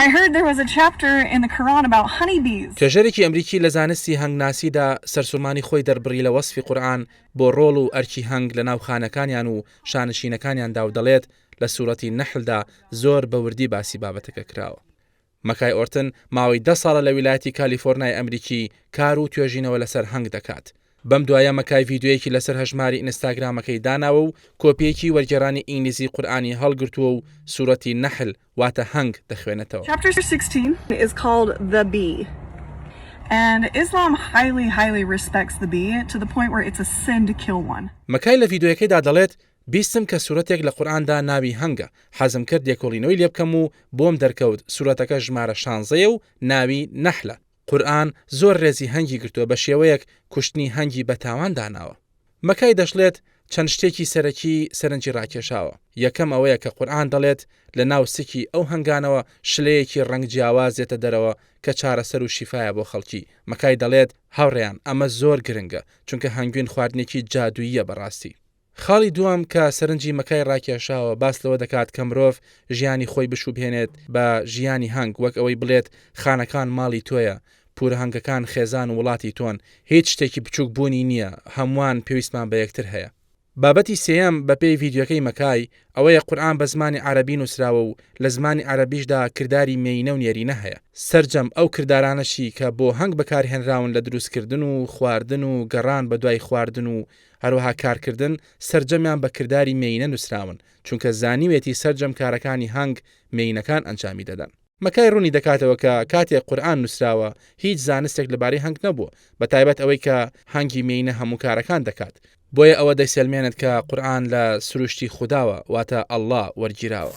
I heard there was a chapter in the Quran about honey bees. توێژەرێکی ئەمریکی لە زانستی هەنگناسیدا سەرسورمانی خۆی دەربڕی لە وەسفی قورئان بۆ ڕۆڵ و ئەرکی هەنگ لەناو خانەکانیان و شانشینەکانیاندا و دەڵێت لە سورەتی نەحلدا زۆر بە وردی باسی بابەتەکە کراوە. مەکای ئۆرتن ماوەی دە ساڵە لە ویلایەتی کالیفۆرنای ئەمریکی کار و توێژینەوە لەسەر هەنگ دەکات بەم دوایە مەکای ڤیدیۆیەکی لەسەر هەژماری ئینستاگرامەکەی داناوە و کۆپییەکی وەرگێڕانی ئینگلیزی قورئانی هەڵگرتووە و سورەتی نەحل، واتە هەنگ، دەخوێنێتەوە. Chapter 16 is called The Bee and Islam highly highly respects the bee to the point where it's a sin to kill one. مەکای لە ڤیدیۆیەکەیدا دەڵێت، بیستم کە سورەتێک لە قورئاندا ناوی هەنگە، حەزم کرد لێکۆڵینەوەی لێبکەم و بۆم دەرکەوت سورەتەکە ژمارە شانزەیە و ناوی نەحلە، قورئان زۆر ڕێزی هەنگی گرتووە بە شێوەیەک کوشتنی هەنگی بە تاوان داناوە. مەکای دەشڵێت، چەند شتێکی سەرەکی سەرنجی ڕاکێشاوە، یەکەم ئەوەیە کە قورئان دەڵێت لە ناو سکی ئەو هەنگانەوە شلەیەکی ڕەنگ جیاواز دێتە دەرەوە کە چارەسەر و شیفایە بۆ خەڵکی مەکای دەڵێت، هاوڕێیان ئەمە زۆر گرنگە چونکە هەنگوین خواردنێکی جادووییە بەڕاستی. خاڵی دووەم کە سەرنجی مەکای ڕاکێشاوە باس لەوە دەکات کە مرۆڤ ژیانی خۆی بشوبهێنێت بە ژیانی هەنگ وەک ئەوەی بڵێت خانەکان ماڵی تۆیە، پورهەنگەکان خێزان و وڵاتی تۆن، هیچ شتێکی بچوک بوونی نییە، هەمووان پێویستمان بە یەکتر هەیە. بابەتی سێیەم بەپێی ڤیدیۆکەی مەکای، ئەوەیە قورئان بە زمانی عەرەبی نووسراوە و لە زمانی عەرەبیشدا کرداری مێینە و نێرینە هەیە، سەرجەم ئەو کردارانەشی کە بۆ هەنگ بەکارهێنراون لە دروستکردن و خواردن و گەڕان بەدوای خواردن و هەروەها کارکردن سەرجەمیان بە کرداری مێیینە نووسراون، چونکە زانیوێتی سەرجەم کارەکانی هانگ مێیینەکان ئەنجامی دەدەن. مکای ڕوونی دەکاتەوە کە کاتێک قورئان نووسراوە هیچ زانستێک لەبارەی هانگ نەبووە، بەتایبەت ئەوەی کە هانگی مێیینە هەموو کارەکان دەکات، بۆیە ئەوە دەیسەلمێنێت کە قورئان لە سروشتی خوداوە، واتە، اللە، وەرگیراوە.